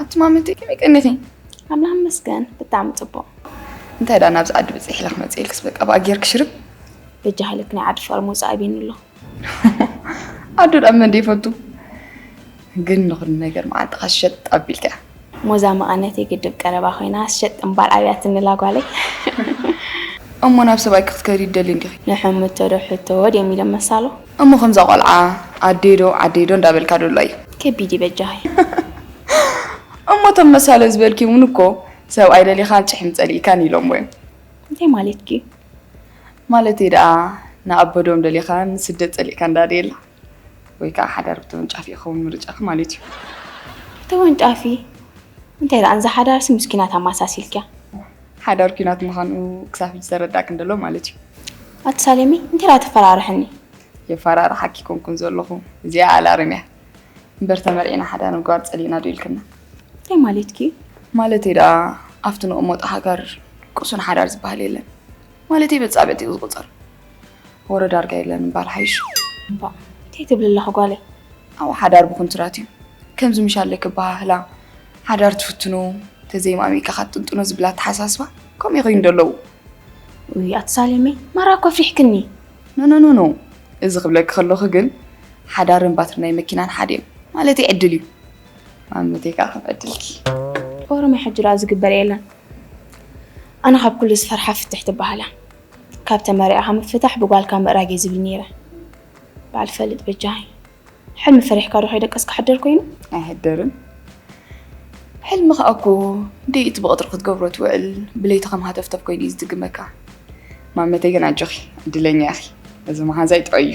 ኣትማመት ከመይ ቀኒኺ? ኣምላኽ ይመስገን ብጣዕሚ ፅቡቕ። እንታይ ደኣ ናብዚ ዓዲ ብፅሒላ ክመፅእ ኢልክስ በቃ ብኣ ጌርኪ ሽርብ በጃ ሃይለክ ናይ ዓዲ ሸዋሮ ምውፃእ ኣቢኒ ኣሎ ኣዱ ዳኣ መን ይፈቱ ግን ንኹሉ ነገር መዓንጣኻ ሸጥ ኣቢልካ እያ ሞዛ መቐነተይ ግድብ ቀረባ ኮይና ሸጥ እምባል ኣብያ ትንላ ጓለይ እሞ ናብ ሰብኣይ ክትከዲ ትደሊ እንዲኺ ንሕምቶ ዶ ሕቶ ድዮም ኢሎም መሳሎ እሞ ከምዛ ቆልዓ ኣደይ ዶ ዓደይ ዶ እንዳበልካ ዶ ኣሎ እዩ ከቢድ እዩ በጃኺ እሞ እቶም መሳሎ ዝበልኪ እውን እኮ ሰብኣይ ደሊኻን ጭሕሚ ጸሊእካን ኢሎምዎ እዮም እንታይ ማለትኪ እዩ ማለተይ ደኣ ንኣቦ ዶም ደሊኻ ንስደት ጸሊእካ እንዳ ዴላ ወይ ከኣ ሓዳር ብተወንጫፊ ክኸውን ምርጫኻ ማለት እዩ። ብተወንጫፊ እንታይ ደኣ ንዛ ሓዳርሲ ምስ ኲናት ኣማሳሲልክያ። ሓዳር ኲናት ምዃኑ ክሳብ ሕጂ ተረዳእክን ደሎ ማለት እዩ። ኣቲ ሳሌመይ እንታይ ደኣ ተፈራርሕኒ። የፋራርሓኪ ኣይኮንኩን ዘለኹ እዚኣ ኣላርም እያ። እምበር ተመርዒና ሓዳር ምግባር ጸሊእና ዶ ኢልክና። እንታይ ማለትኪ እዩ። ማለተይ ደኣ ኣብቲ ንቕመጦ ሃገር ቅሱን ሓዳር ዝበሃል የለን። ማለተይ መፃበቲ እዩ ዝቁፀር ወረ ዳርጋ የለን እምበር ሓይሽ እባ እንታይ ትብሊ ኣለኺ ጓለይ ኣብኡ ሓዳር ብኩንትራት እዩ ከምዚ ምሻለይ ክበሃህላ ሓዳር ትፍትኑ ተዘይማሚእካ ካትጥንጥኖ ዝብል ኣተሓሳስባ ከምኡ ይኸይኑ ደለዉ ውይ ኣቲ ሳሌመይ ማራ እኮ ኣፍሪሕክኒ ኖኖኖኖ እዚ ክብለኪ ከለኹ ግን ሓዳርን ባትሪ ናይ መኪናን ሓደ እዮም ማለተይ ዕድል እዩ ማመተይ ከዓ ከም ዕድልኪ ኦሮማይ ሕጂ ደኣ ዝግበር የለን ኣነ ካብ ኩሉ ዝፈርሓ ፍትሕ ትበሃል እያ ካብ ተመሪዕኻ ምፍታሕ ብጓልካ ምእራግ እየ ዝብል ነይረ በዓል ፈልጥ በጃኺ ሕልሚ ፈሪሕካ ዶ ከይደቀስካ ሕደር ኮይኑ ኣይሕደርን ሕልሚ ከዓ እኮ ደይ እቲ ብቐጥሪ ክትገብሮ ትውዕል ብለይቲ ከም ሃተፍተፍ ኮይኑ እዩ ዝድግመካ ማመተይ ግን ኣጆኺ ዕድለኛ ኢኺ እዚ መሓዛይ ጥዑይ እዩ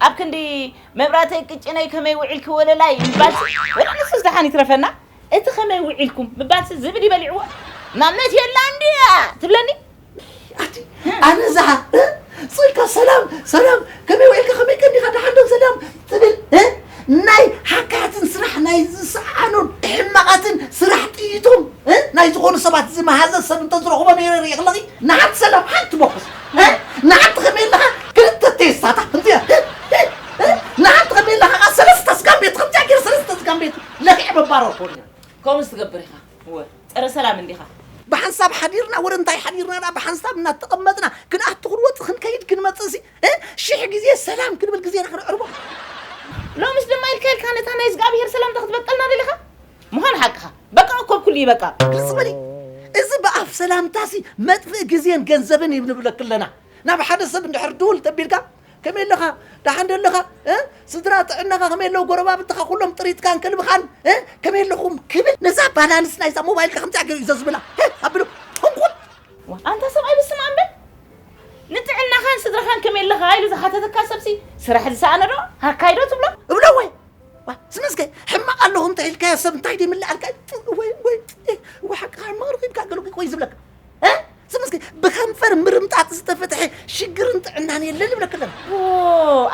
ኣብ ክንዲ መብራተይ ቅጭነይ ከመይ ውዒልኪ ወለላይ ምባልሲ ወላ ንሱስ ደሓን ይትረፈና እቲ ከመይ ውዒልኩም ምባልሲ ዝብዲ በሊዕዎ ማመት የላን ድያ ትብለኒ ኣቲ ኣነ ዝሓ ጽልካ ሰላም ሰላም ከመይ ውዒልካ ከመይ ቀኒኻ ደሓን ዶ ሰላም ትብል እ? ናይ ሓካያትን ስራሕ ናይ ዝሰዓኑ ሕማቓትን ስራሕ ጥይቶም እ? ናይ ዝኾኑ ሰባት ዝመሃዘ ሰብ እንተዝረኽቦ ነይረ ርኢኽለኺ ንሓንቲ ሰላም ሓንቲ ቦክስ ንሓንቲ ከመይ ኣለኻ ክልተ ቴስታታት እንዚኣ ንሓንቲ ከመይ ኣለኻ ከኣ ሰለስተ ስጋን ቤት ከምዚኣ ገይረ ሰለስተ ስጋን ቤት ለኪዐ መባረር ኮን እያ ከምኡስ ትገብር ኢኻ እወ ፀረ ሰላም እንዲኻ ብሓንሳብ ሓዲርና ወረ እንታይ ሓዲርና ዳ ብሓንሳብ እናተቐመጥና ክንኣቱ ክንወፅ ክንከይድ ክንመፅእ ሲ ሽሕ ግዜ ሰላም ክንብል ግዜና ክነዕርቦ ሎምስ ድማ ኢልካ ኢልካ ነታ ናይ እግዚኣብሄር ሰላምታ ክትበቀልና ደሊኻ ምዃን ሓቅኻ በቃ እኮ ኩሉ ይበቃ ግልጽ በሊ እዚ ብኣፍ ሰላምታሲ መጥፍእ ግዜን ገንዘብን እዩ ንብለክ ኣለና ናብ ሓደ ሰብ እንድሕር ድውል ተቢልካ ከመይ ኣለኻ ደሓን ዶ ኣለኻ ስድራ ጥዕናኻ ከመይ ኣለዉ ጎረባብትኻ ኩሎም ጥሪትካን ከልብኻን ከመይ ኣለኹም ክብል ነዛ ባላንስ ናይዛ ሞባይልካ ከምዚኣ ገይሩ ዘዝብላ ኣብሎ ጥንቁል ኣንታ ሰብኣይ ብስም ኣምበል ንጥዕናኻን ስድራኻን ከመይ ኣለኻ ኢሉ ዝሓተተካ ሰብሲ ስራሕ ዝሰኣነ ዶ ሃካይዶ ትብሎ እብሎ ወይ ስመስከ ሕማቕ ኣለኹ እንታይ ኢልካዮ ሰብ እንታይ ደይ ምልኣልካ ወይ ወይ ወይ ሓቂ ሕማቕ ረኺብካ ገለ ቆይ ዝብለካ ስመስከ ብከንፈር ምርምጣጥ ዝተፈትሐ ሽግርን ጥዕናን የለን ይብለክ ኣለና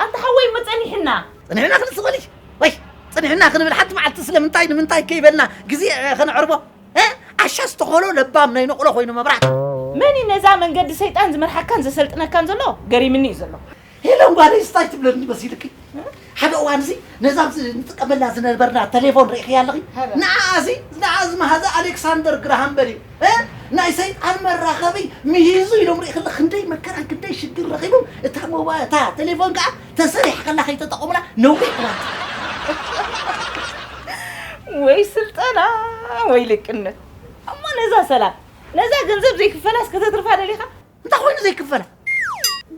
ኣንተ ሓወይ እሞ ጸኒሕና ጸኒሕና ክንስ ኾሊ ወይ ጸኒሕና ክንብል ሓንቲ መዓልቲ ስለምንታይ ንምንታይ ከይበልና ግዜ ከነዕርቦ ዓሻ ዝተኾሎ ለባም ናይ ነቕሎ ኮይኑ መብራት መን እዩ ነዛ መንገዲ ሰይጣን ዝመርሓካን ዘሰልጥነካን ዘሎ ገሪምኒ እዩ ዘሎ ሄለን ጓለይ ስታይ ትብለኒ መሲልኪ ሓደ እዋን እዚ ነዛ ንጥቀመላ ዝነበርና ቴሌፎን ርኢኽያ ኣለኺ ንዓ እዚ ንዓ ዝመሃዘ ኣሌክሳንደር ግራሃም በል እዩ ናይ ሰይጣን መራኸቢ ምሂዙ ኢሎም ርኢኽለ ክንደይ መከራ ክንደይ ሽግር ረኺቦም እታ ሞባ እታ ቴሌፎን ከዓ ተሰሪሕ ከላ ከይተጠቐሙላ ነዊሕ እዋን ወይ ስልጠና ወይ ልቅነት እሞ ነዛ ሰላም ነዛ ገንዘብ ዘይክፈላስ ከተትርፋ ደሊኻ እንታይ ኮይኑ ዘይክፈላ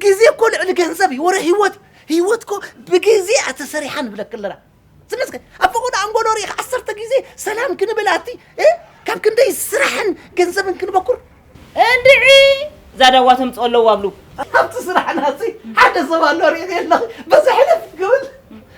ግዜ እኮ ልዕሊ ገንዘብ እዩ ወረ ህይወት ህይወት እኮ ብግዜ እያ ተሰሪሓ ንብለክ ኣለና ስለዚ ኣብ ፈቆዶ ኣንጎሎ ሪኢኻ ዓሰርተ ግዜ ሰላም ክንብል ኣቲ እ? ካብ ክንደይ ስራሕን ገንዘብን ክንበኩር እንድዒ ዛዳዋ ተምፅኦ ኣለዋ ኣብሉ ኣብቲ ስራሕና እዚ ሓደ ሰብ ኣሎ ሪኢኺ ኣለኺ በዚ ሕልፍ ክብል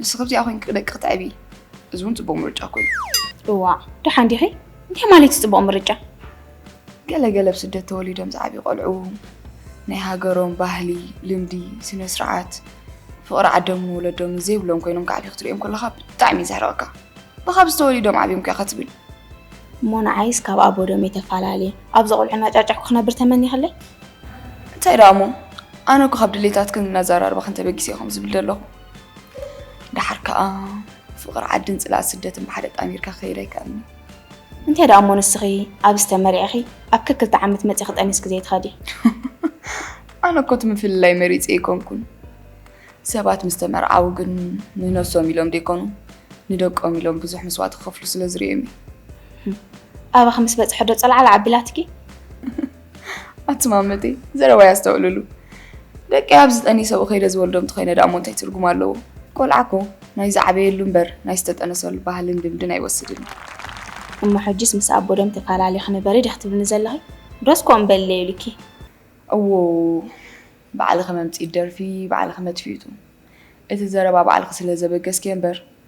ንስኺ ኣብዚኣ ኮይንኪ ደቂ ክተዕቢ እዚ እውን ፅቡቕ ምርጫ እኮ እዩ። እዋእ ደሓን ዲኺ? እንታይ ማለት እዩ ፅቡቕ ምርጫ? ገለ ገለ ኣብ ስደት ተወሊዶም ዝዓብዩ ቆልዑ ናይ ሃገሮም ባህሊ፣ ልምዲ፣ ስነ ስርዓት፣ ፍቕሪ ዓዶምን ወለዶምን ዘይብሎም ኮይኖም ክዓብዩ ክትርእዮም ከለኻ ብጣዕሚ እዩ ዘሕርቐካ። ብኻብዚ ተወሊዶም ዓብዮም እኮ ኢኻ ትብል። እሞ ንዓይስ ካብ ኣቦ ደመይ ተፋላልየ ኣብዚ ቆልዑ እናጫጭሕኩ ክነብር ተመኒኽለይ? እንታይ ደኣ እሞ ኣነ እኮ ካብ ድሌታትክን ኣዘራርባኽን ተበጊሰ እየ ከምዚ ዝብል ዘለኹ። ደሓር ከዓ ፍቕሪ ዓድን ፅልኣት ስደትን ብሓደ ጣሚርካ ክኸይድ ኣይከኣልን እዩ። እንተ ደኣ እሞ ንስኺ ኣብ ዝተመሪዕኺ ኣብ ከክልተ ዓመት መፂኺ ጠኒስኪ ዘይትኸዲ ኣነ እኮ እቲ ምፍልላይ መሪፀ ኣይኮንኩን። ሰባት ምስ ተመርዓው ግን ንነብሶም ኢሎም ደይኮኑ ንደቆም ኢሎም ብዙሕ መስዋእቲ ክኸፍሉ ስለ ዝርእዮም እዩ። ኣባኺ ምስ በፅሐ ዶ ፀልዓል ዓቢላትኪ? ኣትማመተይ ዘረባ ያስተውዕልሉ ደቂ ኣብ ዝጠኒ ሰብኡ ከይደ ዝወልዶም ተኮይነ ዳእሞ እንታይ ትርጉም ኣለዎ ቆልዓ ኮ ናይ ዝዓበየሉ እምበር ናይ ዝተጠነሰሉ ባህልን ልምድን ኣይወስድን እሞ ሕጂስ ምስ ኣቦ ደም ተፈላሊኺ ንበሪ ዲኺ ትብልኒ ዘለኺ ዶስ ኮ እምበለ ኢሉኪ እዎ ባዕልኺ መምፅኢት ደርፊ ባዕልኺ መጥፊኢቱ እቲ ዘረባ ባዕልኺ ስለ ዘበገስኪዮ እምበር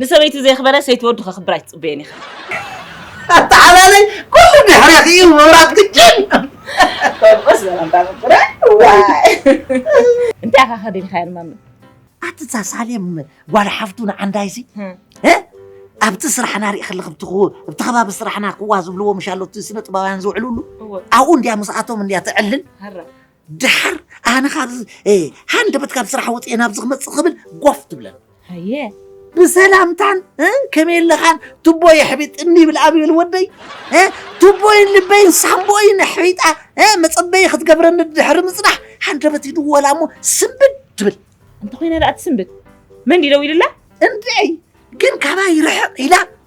ንሰበይቲ ዘየኽበረ ሰይቲ ወዱ ከኽብር ኣይትጽበዮን ኢኻ። ኣተዓባለይ ኩሉ ድሕሬኺ እዩ ምብራቕ ግጭን ከምኡስ ዘረባ ምቁረ ዋይ እንታይ ኢኻ ከዲንኻያ ንማሚ ኣቲ እዛ ሳሌም ጓል ሓፍቱ ንዓንዳይሲ ኣብቲ ስራሕና ርኢ ከለኺ ኣብቲ ከባቢ ስራሕና ክዋ ዝብልዎ ምሻሎቲ ስነ ጥበባውያን ዝውዕልሉ ኣብኡ እንድያ ምስኣቶም እንድያ ትዕልል ድሓር ኣነ ካብዚ ሃንደበት ካብ ስራሕ ወፅኤ ናብዚ ክመፅእ ክብል ጎፍ ትብለን ሃየ ብሰላምታን ከመይ ኣለኻን ቱቦ የሕቢጥ እኒ ይብል ኣብ ይብል ወደይ ቱቦይን ልበይን ሳምቦይን ኣሕቢጣ መፀበዪ ክትገብረኒ ድሕሪ ምፅናሕ ሃንደበት ይድወላ እሞ ስንብድ ትብል እንተኾይነ ደኣ ትስንብድ መን ድዩ ደው ኢሉላ እንድዒ ግን ካባይ ይርሕቕ ኢላ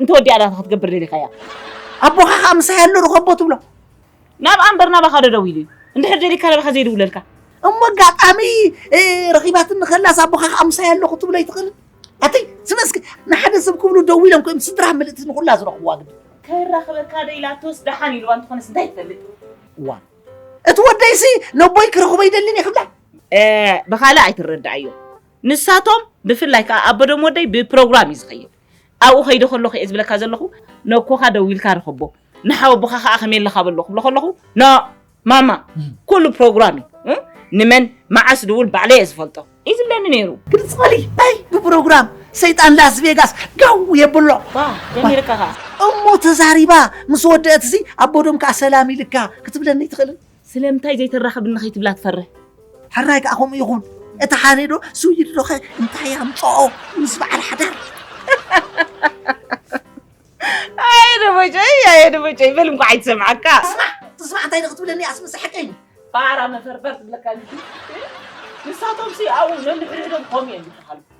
እንተወዲኣ ዳታ ክትገብር ደሊኻያ ኣቦኻ ከዓ ምሳይ ኣሎ ርኸቦ ትብሎ ናብ ኣንበር ናባኻ ዶ ደዊሉ እዩ እንድሕር ደሊካ ናባኻ ዘይድውለልካ እሞ ኣጋጣሚ ረኺባትኒ ከላስ ኣቦኻ ከዓ ምሳይ ኣለኹ ትብሎ ኣይትኽእልን ኣተይ ስለስከ ንሓደ ሰብ ክብሉ ደው ኢሎም ኮይም ስድራ ምልእቲ ንኩላ ዝረኽብዋ ግዲ ከይራኸበካ ዶ ኢላቶስ ደሓን ኢልዋ እንትኾነስ እንታይ ትፈልጥ እዋ እቲ ወደይሲ ነቦይ ክረኽቦ ይደልን እየ ክብላ ብካልእ ኣይትረዳኣዮ ንሳቶም ብፍላይ ከዓ ኣቦዶም ወደይ ብፕሮግራም እዩ ዝኸይድ ኣብኡ ከይደ ከለኹ እየ ዝብለካ ዘለኹ፣ ነኮኻ ደዊልካ ርኸቦ፣ ንሓወቦኻ ከኣ ከመይ ኣለኻ በሎ ክብሎ ከለኹ፣ ኖእ ማማ ኩሉ ፕሮግራም እዩ፣ ንመን መዓስ ድውል ባዕለይ እየ ዝፈልጦ እዩ ዝብለኒ ነይሩ። ግልጽ በሊ ኣይ ብፕሮግራም ሰይጣን ላስ ቬጋስ ጋው የብሎ። ጀሚርካ ከኣ እሞ ተዛሪባ ምስ ወደአትሲ ኣቦዶም ከኣ ሰላም ኢልካ ክትብለኒ ኣይትኽእልን? ስለምንታይ ዘይተራኽብኒ ከይትብላ ትፈርህ። ሕራይ ከኣ ከምኡ ይኹን። እቲ ሓሬ ዶ ስዊድ ዶኸ እንታይ ኣምጽኦ ምስ በዓል ሓዳር። ኣየ ደቦጨይ ኣየ ደቦጨይ በል እንኳዕ ኣይትሰምዓካ ትስማዕ ትስማዕ እንታይ ንክትብለኒ እያስ ምስሓቀይ ፋራ መፈርፈር ትብለካ ንሳቶምሲ ኣብኡ ነንሕድሕዶም ከምኡ እዮም ዝበሃሉ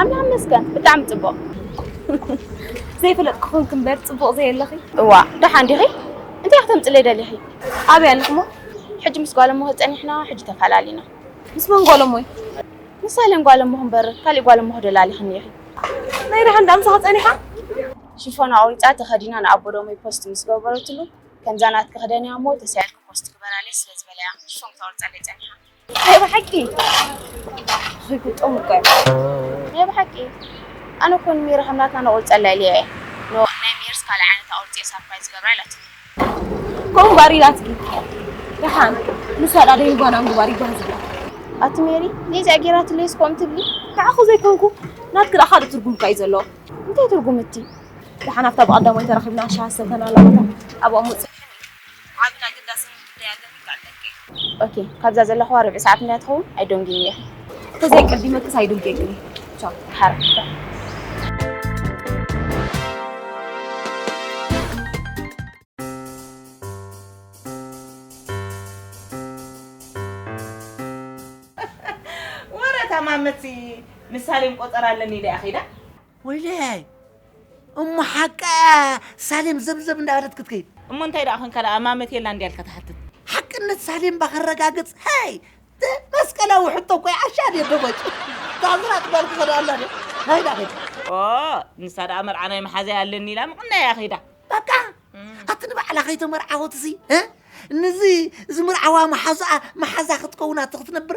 ኣምላኽ ይመስገን ብጣዕሚ ጽቡቕ። ዘይፈለጥኩ ኮንክ እምበር ጽቡቕ ዘየለኺ። እዋ ደሓን ዲኺ? እንታይ ክትምጽለይ ደሊኺ? ኣበይ ኣለኹሞ? ሕጂ ምስ ጓል እሞኺ ጸኒሕና ሕጂ ተፈላሊና። ምስ መን ጓል እሞይ? ምስ ሳህለን ጓል እሞኺ እምበር ካሊእ ጓል እሞኺ ዶ ላሊኽኒ ኢኺ? ናይ ደሓን ደኣ ምሳኺ ጸኒሓ? ሽፎን ኣቑሪጻ ተኸዲና ንኣቦ ዶሞይ ፖስት ምስ ገበረትሉ ከምዛ ናትኪ ክደንያ እሞ ተሳኢልኪ ፖስት ግበራለይ ስለ ዝበላያ ሽፎን ክተቑርጸለይ ጸኒሓ። ናይ ብሓቂ ዝግጥም እኮ ናይ ብሓቂ ኣነ ኮን ሚር ከምናትና ነቁርፀላ ኢለ እየ ናይ ሚርስ ካልእ ዓይነት ኣቁርፂ እየ ሳርፕራይዝ ዝገብራ ኢላቶ ከምኡ ባር ኢላትኪ ደሓን ንሳ ዳ ደይ ጓና ምግባር ይጓን ዝብላ ኣቲ ሜሪ ነዚኣ ጌራትለይስ ከምኡ ትብሊ ንዓኹ ዘይኮንኩ ናትኪ ደኣ ካልእ ትርጉም እኳ እዩ ዘለዎ እንታይ ትርጉም እቲ ደሓን ኣብታ ብቐዳማይ ተራኺብና ሻሃ ሰተናላ ኣብኦም ውፅእ ዓብን ኣገዳስን ጉዳይ ኣለኒ ክዕልለኪ እየ። ኦኬ ካብዛ ዘለኹዋ ርብዒ ሰዓት ምንያ ትኸውን ኣይዶንጊን እየ። እንተዘይ ኣቀዲመክስ ኣይዶንጌክን እየ። ቻው። ሓራ ወረ እታ ማመት ምሳሌን ቆጸራ ኣለኒ ኢላ እያ ከይዳ። ወይለይ እሞ ሓቃ'ያ ሳሌም ዘብዘብ እንዳበለት ክትከይድ። እሞ እንታይ ደኣ ኮንካ ደኣ ማመት የላን ድያ ኢልካ ትሓትት? ሓቅነት ሳሌም እባ ከረጋግጽ ሀይ ት መስቀላዊ ሕቶ እኮ'ዩ ዓሻ ድየ ደቦጭ ታዝራጥ ጓል ክኸዳ ኣላ ድየ ሀይ ደኣ ከይድ። ኦእ ንሳ ደኣ መርዓ ናይ መሓዛይ ኣለኒ ኢላ ምቕናይ እያ ከይዳ። በቃ ኣቲ ንባዕላ ከይተመርዓወትሲ ንዚ ዝምርዓዋ መሓዝኣ መሓዛ ክትከውናቶ ክትነብር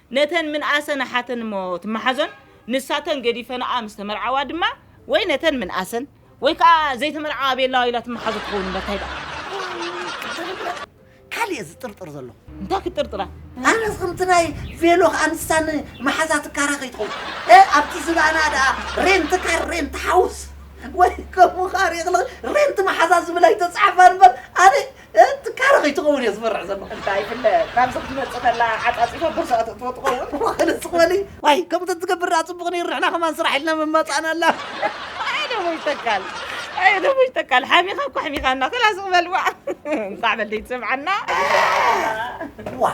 ነተን ምንኣሰን ኣሓተን እሞ ትመሓዞን፣ ንሳተን ገዲፈንኣ ምስ ተመርዓዋ ድማ ወይ ነተን ምንኣሰን ወይ ከኣ ዘይተመርዓዋ ቤላዋ ኢላ ትመሓዞ ትኸውን እምበር ታይ ደኣ። ካልእ እየ ዝጥርጥር ዘለኹ። እንታይ ክትጥርጥራ? ኣነስ ከምቲ ናይ ቬሎ ከኣ ንሳ ንመሓዛ ትካራ ከይትኸውን እ ኣብቲ ዝባና ደኣ ሬንት ካር ሬንት ሓውስ ወይ ከምኡ ከኣ ሪእኽልኽ ሬንት መሓዛ ዝብል ኣይተጻሕፋን እምበር ኣነ ትካረ ከይትኸውን እየ ዝፈርሕ ዘለኹ እንታይ ይፍለጥ ካብዚ ክትመፅእ ከላ ዓፃፂፋ ቦርሳኣ ተእትዎ ትኸውን ዋክልስ ዝበሊ ዋይ ከምቲ ትገብር ደኣ ፅቡቕ ነይሩ ንሕና ከማን ስራሕ ኢልና ምመፃእናላ ኣይ ደሞ ይተካል ኣይ ደሞ ይተካል ሓሚኻ እኮ ኣሕሚኻና ከላስ በልዋ እንኳዕ በለይ ትሰምዓና ዋ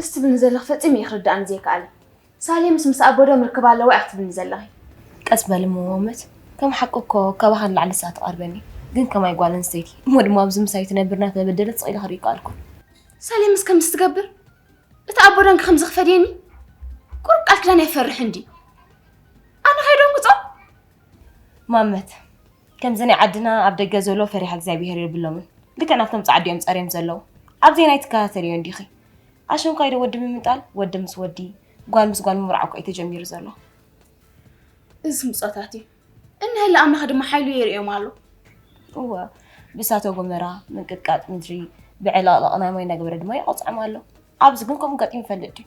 እስ ትብልኒ ዘለኺ ፈፂሙ እዩ ክርድኣኒ ዘይከኣለ ሳሌምስ ምስ ኣቦዶም ርክብ ኣለዋ እያ ክትብልኒ ዘለኺ ቀስ በሊ መዋመት ከም ሓቂ እኮ ካባኻ ንላዕሊ ንሳ ትቐርበኒ ግን ከማይ ጓል ኣንስተይቲ እሞ ድማ ኣብዚ ምሳይ ትነብር እናተበደለት ስቕ ኢለ ክርኢ ይከኣልኩ ሳሌምስ ከምዚ ትገብር እቲ ኣቦዶን ከምዚ ክፈድየኒ ቁርብ ቃል ኪዳን ኣይፈርሕ እንዲ ኣነ ከይዶም ክፆም ማመት ከምዚ ናይ ዓድና ኣብ ደገ ዘሎ ፈሪሃ እግዚኣብሄር የብሎምን ልክዕ ናብቶም ጻዓዱ እዮም ጸርዮም ዘለዉ ኣብዘይ ናይ ትከታተልዮ እንዲኺ ኣሸንኳይ ዶ ወዲ ምምጣል ወዲ ምስ ወዲ ጓል ምስ ጓል ምብራዕ እኮ እዩ ተጀሚሩ ዘሎ እዚ ስምጾታት እዩ እንሀለ ኣምላኽ ድማ ሓይሉ የርእዮም ኣሎ እወ ብእሳተ ጎመራ ምንቅጥቃጥ ምድሪ ብዕልቕልቕ ናይ ማይ እናገበረ ድማ ይቐጽዖም ኣሎ ኣብዚ ግን ከምኡ ገጢሙ ይፈልጥ ድዩ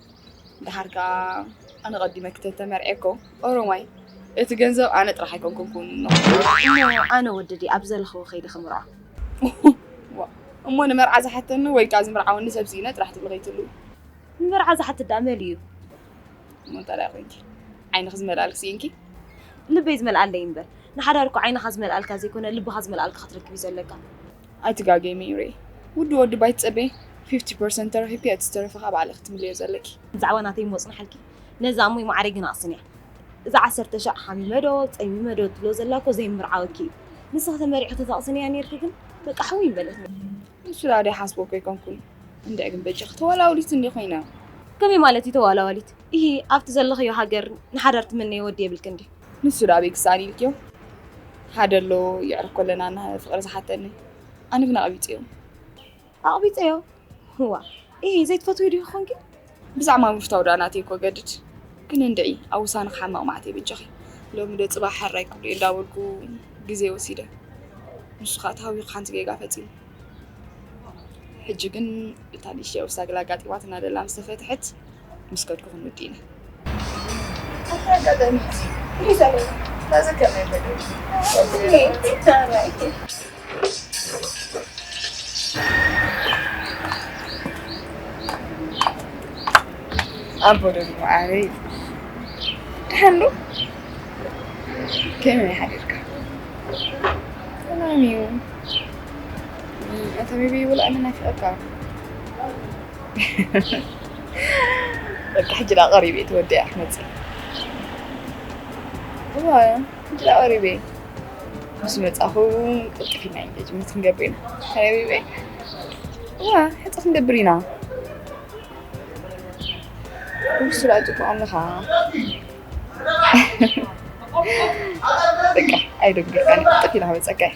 ደሓር ከኣ ኣነ ቀዲመ ክተተመርዔኮ ኦሮማይ እቲ ገንዘብ ኣነ ጥራሕ ኣይኮንኩንኩን እሞ ኣነ ወዲ ድየ ኣብ ዘለኽዎ ከይደ ክምርዖ እሞ ንመርዓ ዝሓተኒ ወይ ከኣ ዝምርዓወኒ ሰብ ስኢነ ጥራሕ ትብሊ ከይትሉ ንመርዓ ዝሓት ደኣ መን እዩ እሞ እንታላይ ኮንኪ ዓይንኺ ዝመልኣልክ ስኢንኪ ልበይ ዝመልኣለይ እምበር ንሓዳር እኮ ዓይንኻ ዝመልኣልካ ዘይኮነ ልብኻ ዝመልኣልካ ክትረክብ እዩ ዘለካ ኣይትጋገይ መይረይ ውዱ ወዲ ባይ ትጸበይ ፊፍቲ ፐርሰንት ተረኪብኪ እቲ ዝተረፈ ከኣ ባዕልኪ ክትምልዮ ዘለኪ። ብዛዕባ ናተይ እሞ ጽንሓልኪ ነዛ እሙይ ማዓረይ ግና ኣስንያ እዛ ዓሰርተ ሻዕ ሓሚመ ዶ ጸሚመ ዶ ትብሎ ዘላ እኮ ዘይምምርዓወኪ እዩ ንስኪ ተመሪዕኪ ተተቅስንያ ኔርኪ ግን በቃ ሕውይ ምበለትኒ። ንሱ ደኣ ደይሓስቦ እኮ ኣይኮንኩን እንድዒ ግን በጃኺ ተዋላውሊት እንድየ ኮይነ። ከመይ ማለት እዩ ተዋላዋሊት ኢሂ ኣብቲ ዘለኽዮ ሃገር ንሓዳር ትምነዮ ወዲ የብልክን ድዩ። ንሱ ዳኣ ኣበይ ክሰኣን ኢልክዮ ሓደ ኣሎ የዕርኮ ኣለና እና ፍቅሪ ዝሓተኒ ኣነ ግን ኣቅቢፀዮ ኣቅቢፀዮ ህዋ እሂ ዘይትፈትዊ ዲኪ ኮንኪ ብዛዕማ ምፍታው ዳኣ ናተይ እኮ ገድድ ግን እንድዒ ኣብ ውሳነ ክሓመቅ ማዕተይ በጃኺ ሎሚ ዶ ፅባሕ ሕራይ ክብልዮ እንዳበልኩ ግዜ ወሲደ ንሱ ከዓ ተሃዊኩ ሓንቲ ጌጋ ፈፂመ ሕጂ ግን እታ ንእሽተይ ኦፍሳ ግላ ኣጋጢማትና ደላ ምስ ተፈትሐት ምስ ከድኩ ክንውዲ ኢና ኣብቲ ኣጋጣሚ ሕዚ ሒዛ ኣለና ናዚ ከመይ በለ ኣቦ ደግሞ ዓበይ ድሓን ዶ ከመይ ሓዲርካ ሰላም እዩ እቲ ቢቢ ይብላ ኣነ ናፊቐካ በቃ ሕጂ ዳ ቀሪብ እየ ተወዲኣ ክመፅእ እዋ ሕጂ ዳ ቀሪብ እየ ምስ መፃኹ ቅልጥፍ ኢና ኢንጌጅመንት ክንገብር ኢና ሓቢበይ እዋ ሕፀ ክንገብር ኢና ንሱ ዳ ፅቡቕ ኣለኻ በቃ ኣይደንግርካን ቅልጥፍ ኢላ ክመፀካ እየ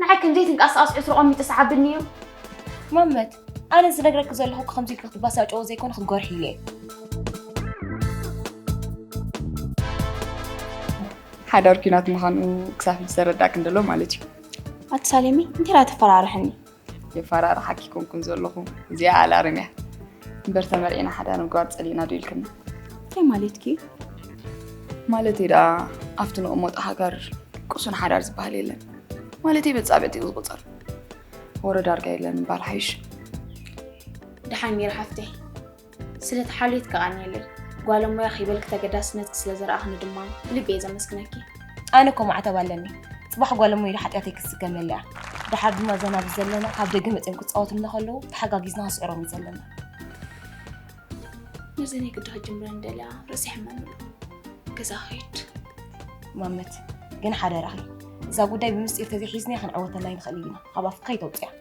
ንዓይ ክንደይ ትንቃሳቐስ ዕትሮ ቐሚጢ ሰዓብኒ እዩ። ማመት ኣነ ዝነግረኪ ዘለኹ ከምዚ ኢልኪ ክትበሳጨዎ ዘይኮነ ክትጎርሒ ኢለ እየ። ሓዳር ኲናት ምዃኑ ክሳብ ሕጂ ተረዳእ ክንደሎ ማለት እዩ። ኣቲ ሳሌሚ እንታይ ተፈራርሕኒ? የፈራርሓኪ ኮንኩን ዘለኹ እዚኣ ኣላርም እያ። እምበር ተመርዒና ሓዳር ምግባር ፀሊእና ዶ ኢልክኒ? እንታይ ማለትኪ እዩ? ማለተይ ደኣ ኣብቲ ንቕመጦ ሃገር ቅሱን ሓዳር ዝበሃል የለን ማለተይ በፃብዕቲ እዩ ዝቑፀር ወረ ዳርጋ የለን ምባል ሓይሽ ደሓን ኔረ ሓፍተይ ስለቲ ሓልዮት ከቃንየለይ ጓለሞያ ከይበልኪ ተገዳስነትኪ ስለ ዘርኣኽኒ ድማ ብልቢ እየ ዘመስግነኪ ኣነ እኮ ማዕተብ ኣለኒ ፅባሕ ጓል እሞ ኢለ ሓጢኣተይ ክስከመለ እያ ድሓር ድማ እዛ ናብዚ ዘለና ካብ ደገ መፅኦም ክፃወትልና ከለዉ ተሓጋጊዝና ክስዕሮም እዩ ዘለና ነዚ ናይ ግዳ ጅምረን ደልያ ርእሲ ሕመም ኣሎ ገዛ ኸይድ ማመት ግን ሓደራኺ እዛ ጉዳይ ብምስጢር ተዘይሒዝናያ ክንዕወተላ ይንኽእል ኢና ካብ ኣፍካ ይተውፅያ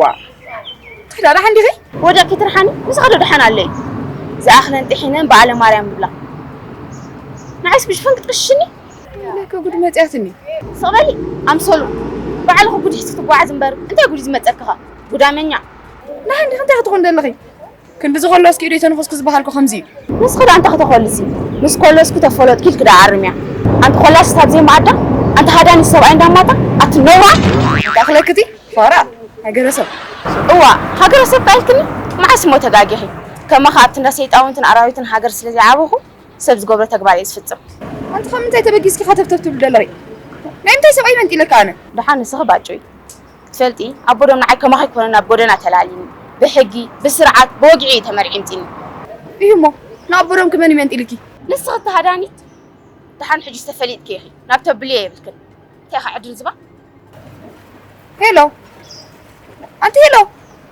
ዋእ ትሕዳ ደሓን ዲኺ? ወዲቕኪ ትርሓኒ ምሳኺ ዶ ደሓን ኣለይ? ዝኣኽለን ጥሒነን በዓለ ማርያም ይብላ ንዓይስ ብሽፈን ክትቕሽሽኒ? ለከ ጉድ መጺኣትኒ። ስቕ በሊ ኣምሰሉ ባዕልኺ ጉድ ሒዝኪ ትጓዓዚ እምበር እንታይ ጉድ'ዩ ዝመጸኪኸ ጉዳመኛ። ደሓን ዲኺ እንታይ ክትኾኒ ደለኺ? ክንድዚ ኮሎስኪ ኢደይ ተንኹስኪ ዝበሃልኩ ከምዚ እዩ። ንስኺ ደኣ እንታይ ክተኾልሲ ምስ ኮሎስኪ ተፈሎጥኪ ኢልኪ ደኣ ኣርምያ ኣንቲ ኮላሲት ኣብ ዘይመኣዳ ኣንቲ ሃዳኒት ሰብኣይ እንዳ ማታ ኣቲ ነውራም። እንታይ ክለኪ እቲ ፋራ ሃገረ ሰብ። እዋእ ሃገረ ሰብ ከኣ ኢልክኒ መዓስ እሞ ተጋጊኺ ከማኺ ኣብቲ እንዳ ሰይጣውንትን ኣራዊትን ሃገር ስለ ዘይዓበኹ ሰብ ዝገብሮ ተግባር እየ ዝፍጽም። ኣንቲ ካብ ምንታይ ተበጊስኪ ኢኺ ሃተፍተፍ ትብሊ ደለኺ ናይ ምንታይ ሰብኣይ መንጢለኪ ኣነ። ደሓን ንስኺ ባጭውይ ክትፈልጢ ኣቦ ዶ ንዓይ ከማኺ ኮነ ናብ ጎደና ተላሊኒ ብሕጊ ብስርዓት ብወግዒ እዩ ተመርዒምጢኒ። እዩ እሞ ንኣቦ ዶምኪ መን እዩ መንጢሊኪ? ንስኺ ከሃዳኒት ደሓን ሕጂስ ተፈሊጥኪ ኢኺ ናብ ተብልዮ የብልክን እንታይ ኢኺ ዕድርዝባን። ሄሎ ኣንቲ ሄሎ።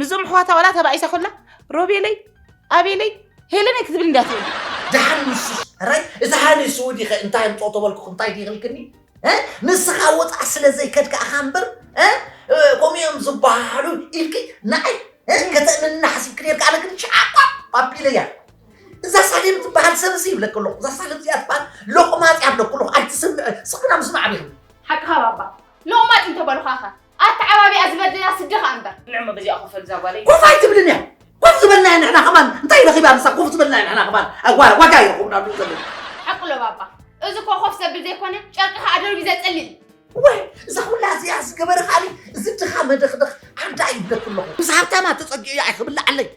ምስዞም ኣሕዋታ ዋላ ተባኢሳ ኮላ ሮቤለይ ኣቤለይ ሄለነይ ክትብል እንዳ ትብል ደሓን ንሱስ ራይ እዚ ሃኒ ስውዲ ከ እንታይ ኣምፅኦ ተበልኩ እንታይ ድይክልክኒ ንስኻ ወፃእ ስለ ዘይከድካ ኣኻ እምበር ከምኡ እዮም ዝበሃሉ ኢልኪ ንዓይ ከተእምንና ሓሲብክ ነርካ ኣነ ግን ሸዓቋ ኣቢለ እያ እዛ ሳሌም ትበሃል ሰብ እዚ ይብለክ ኣለኹ እዛ ሳሌም እዚኣ ትበሃል ሎቕማፅ እያ ብለኩ ኣለኹ ኣይትስምዕ ስክና ምስማዕ ቢኹም ሓቅኻ ባባ ሎቕማፅ እንተበልኳኸ ኣተዓባቢኣ ዝበድለና ስዲ ከኣ እምበር። ንዕሞ በዚኣ ኮፍ በል እዛ ጓለይ። ኮፍ ኣይትብልን እያ ኮፍ ዝበልናያ ንሕና ከማን እንታይ ረኺባ ምሳ ኮፍ ዝበልናያ ንሕና ከማን ኣጓ ዋጋ ይረኽቡና ኣለዉ ዘለዉ ሓቁ ኣሎ ባባ እዚ እኮ ኮፍ ዘብል ዘይኮነ ጨርቂ ከኣ ደርቢ ዘጽልል ወይ እዛ ኩላ እዚኣ ዝገበረ ከኣ እዚ ድኻ መደኽደኽ ዓዳ ይብለኩ ኣለኹ ምስ ሃብታማ ተጸጊዑ እያ ኣይክብላዓለይ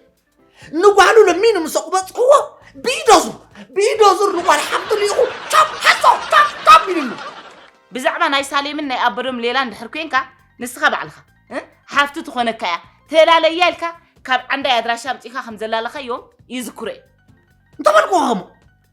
ንጓሉ ለሚኑ ምስ ኣቑበፅክዎ ብኢዶዙር ብኢዶዙር ንጓል ሓብቱ ልኢኹ ቻፕ ሓሶ ቻፕ ቻፕ ኢሉሉ ብዛዕባ ናይ ሳሌምን ናይ ኣበዶም ሌላን ድሕር ኮንካ ንስኻ ባዕልኻ እ? ሓፍቱ ትኾነካ እያ ተላለያ ኢልካ ካብ ዓንዳይ ኣድራሻ ኣምፂእካ ከም ዘላለኻዮም ይዝክሮ እዩ እንተበልክዎ ከምኡ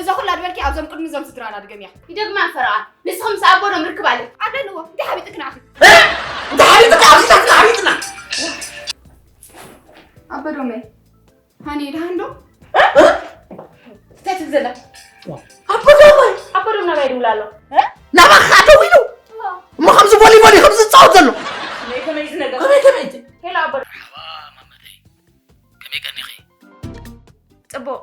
እዛ ኩላ ድበልኪ ኣብዞም ቅድሚ እዞም ስድራና ድገምያ ይደግማ ፈረቓ ንስኹም ምስ ኣቦዶም ርክብ ኣለ ኣለዎ እንታይ ሓቢጥክ ንዓኺ እንታይ ሓቢጥክ ኣብዚታት ሓቢጥና ኣበዶመ ሃኒ ድሃን ዶ እንታይ ትብል ዘላ ኣቦዶመ ኣቦዶም ናባይ ይድውል ኣሎ ናባኻ ደው ኢሉ እሞ ከምዚ ቦሊቦሊ ከምዚ ዝፃወት ዘሎ ከመይ ከመይ እዚ ነገር ከመይ ከመይ እቲ ሄሎ ኣቦዶ መርሓባ ማመተይ ከመይ ቀኒኺ ፅቡቕ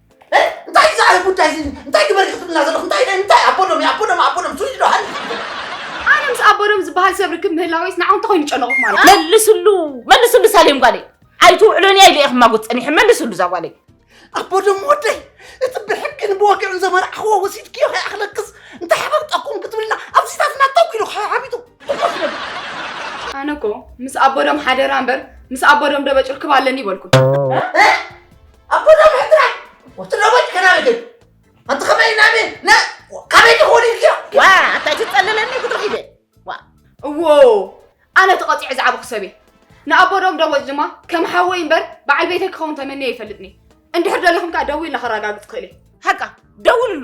እንታይ እዩ ዝዓለ ጉዳይ እዚ እንታይ ግበር እዩ ክትብልና ዘለኹ እንታይ ናይ እንታይ ኣቦዶም እዩ ኣቦዶም ኣቦዶም ስዊድ ዶ ሃሊ ኣነ ምስ ኣቦዶም ዝበሃል ሰብ ርክብ ምህላወይስ ንዓኹም እንታይ ኮይኑ ጨነቑ ማለት እዩ? መልስሉ መልስሉ ሳሌም ጓለይ ኣይትውዕሎን እያ ኢለ እየ ክማጎት ፀኒሐ መልስሉ እዛ ጓለይ ኣቦዶም ወደይ እቲ ብሕግን ብወግዕን ዘመርዓኽዎ ወሲድክዮ ከይኣኽለክስ እንታይ ሓበብጠኩም ክትብልና ኣብዚታትና ተው ኢሉ ሓቢጡ ኣነ እኮ ምስ ኣቦዶም ሓደራ እምበር ምስ ኣቦዶም ደበጭ ርክብ ኣለኒ ይበልኩ ኣቦና ምሕድራ ወትሮበት ከናብግን ኣቲ ከመይ ናበ ና ካበይ ትኸውን ኢልክዮ ዋ ኣታ ትፀልለኒ ክትርኽ ኢደ ዋ እዎ ኣነ ተቐፂዐ ዝዓብ ክሰብ እየ ንኣቦ ዶም ደወፅ ድማ ከም ሓወይ እምበር በዓል ቤተይ ክኸውን ተመንየ ይፈልጥኒ እንድሕር ደለኹም ከዓ ደዊ ኢልና ከረጋግፅ ክእል እየ ሓቃ ደውልሉ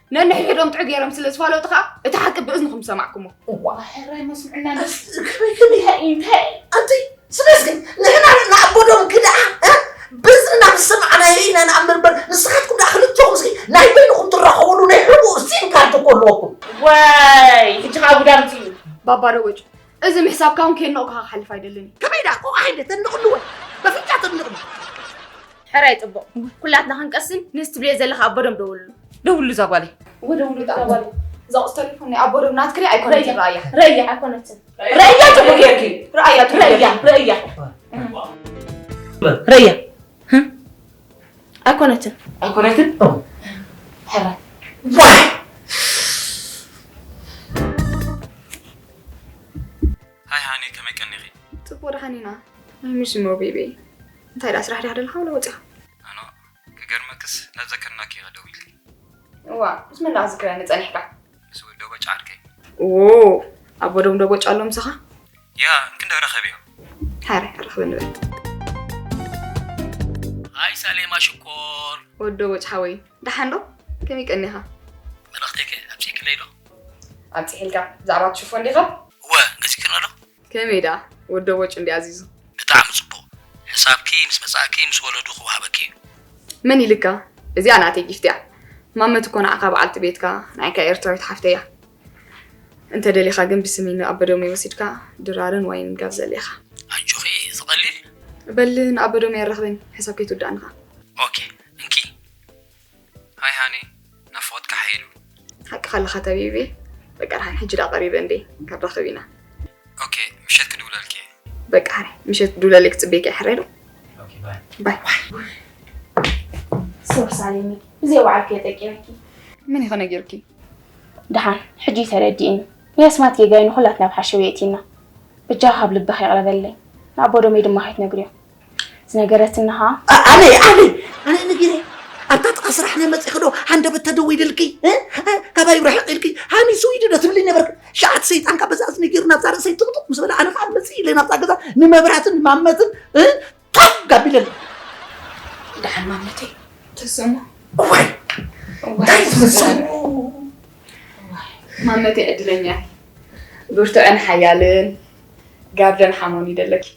ነንሕድሕዶም ጥዕ ገይሮም ስለ ዝፋለጡ ከዓ እቲ ሓቂ ብእዝንኹም ዝሰማዕኩሞ እዋ ሕራይ መስምዕና ከመይ ከመይ እንታይ ኣንቲ ስለዚ ግን ንሕና ንኣቦዶም ክድኣ ብእዝንና ምስ ሰማዕናዮ ኢና ንኣምር እምበር ንስኻትኩም ድኣ ክልተኹም እስኪ ናይ በይንኹም ትራኸብሉ ናይ ሕቡእ ሲም ካርድ እኮ ኣለወኩም ወይ ሕጂ ከዓ ጉዳምቲ እዩ ባባዶ ወጭ እዚ ምሕሳብካ እውን ከየድነቕኩኻ ክሓልፍ ኣይደልን እዩ። ከመይ ደኣ ቆቋ ሃይለ ተድንቕሉ ወይ በፍንጫ ተድንቕሉ? ሕራይ ጽቡቕ ኩላትና ክንቀስን ነዚ ትብልዮ ዘለኻ ኣቦዶም ደውልሉ። ደውልሉ እዛ ጓለይ። እወ ደውልሉ እዛ ጓለይ። እዛ ቁጽ ተሊፎን ናይ ኣቦዶም ናትኪ ድያ ኣይኮነትን ረኣያ። ረኣያ ኣይኮነትን ረኣያ ጽቡቕ ጌርኪ ረኣያ ረኣያ ረኣያ ረኣያ ኣይኮነትን ኣይኮነትን ሕራይ ሃይ ሃኒ ከመይ ቀኒኺ? ፅቡቅ ደሓን ኢና ናይ ምሽ እሞ ቤቤ እንታይ ደኣ ስራሕ ዲኻ ደለኻ ወላ ወፂኻ ኣኖ ክገርመክስ ናብ ዘከርናኪ ኢኻ ደዊልኪ እዋ ምስ መን ደኣ ዝክረኒ ፀኒሕካ ንስውን ዶ በጭ ዓርከይ ዎ ኣቦ ዶም ዶ በጭ ኣሎ ምሳኻ ያ እንክንደ ረኸብ እዮ ሓረ ረኽብ ንበል ኣይ ሳሌማ ሽኮር ወዶ በጭ ሓወይ ደሓን ዶ ከመይ ቀኒኻ መልእኽተይከ ኣብፂሕክለይ ዶ ኣብፂሕልካ ብዛዕባ ትሽፎ እንዲኻ እወ ገዚክርና ዶ ከመይ ድኣ ወዶ ቦጭ እንድዩ ኣዚዙ። ብጣዕሚ ጽቡቅ ሕሳብኪ ምስ መጻእኪ ምስ ወለዱ ክወሃበኪ እዩ። መን ኢልካ እዚኣ ናተይ ጊፍት እያ ማመት እኮ ንዓካ በዓልቲ ቤትካ ናይካ ኤርትራዊት ሓፍተይ እያ እንተ ደሊካ ግን ብስሚ ን ኣበዶሜ ወሲድካ ድራርን ዋይንን ጋብዘለይ ኢካ። ኣጆኺ እዚ ቀሊል እዩ። በል ንኣበዶሜ ኣራክበኒ ሕሳብ ከይትውድኣኒ ከኣ። ኦኬ እንኪ። ሃይ ሃኒ ናፍቆትካ ሓይሉ። ሓቅኻ ኣለኻ ተቢቢ በቃ ዳሓን ሕጂ ድኣ ቀሪበ እንዴ ክንራኸብ ኢና። ኦኬ ምሸት ክድውለልኪ እየ። በቃ ሃኒ ምሸት ክትድውለለይ ክጽበየኪ እየ ሕራይ ዶ። ኦኬ ባይ። ባይ። ሶሪ ሳሌኒ ብዘይወዓልክዮ ጠቂመኪ። መን እዩ ከ ነጊሩኪ? ድሓን ሕጂ እዩ ተረዲእኒ ናይ ኣስማት ጌጋይ ንኹላትና ኣብ ሓሸውየ የእቲና። በጃኺ ካብ ልብኺ ይቕረ በልለይ ንኣቦ ዶመይ ድማ ከይትነግርዮ። ዝነገረትኒ ኸኣ ኣበይ ኣበይ ኣነ ነጊረ ኣብታ ጥቃ ስራሕና መፂኺ ዶ ሃንደበት ተደዊልልኪ እ? እ፣ ካባይ ርሕቅ ኢልኪ ሃኒ ስዊዲ ዶ ትብልኝ ነበርኪ ሸዓት ሰይጣን ካብ በዛ እዝኒ ገይሩ ናብዛ ርእሰይ ጥቅጥቅ ምስ በለ ኣነ ከዓ መፅእ ኢለ ናብዛ ገዛ ንመብራትን ንማመትን እ፣ ቶግ ጋቢለኒ ደሓን ማመተይ ትስዕሞ እዋይ እንታይ ትመስሉ ማመተይ ዕድለኛ እየ ብርቱዕን ሓያልን ጋርደን ሓሞን ይደለኪ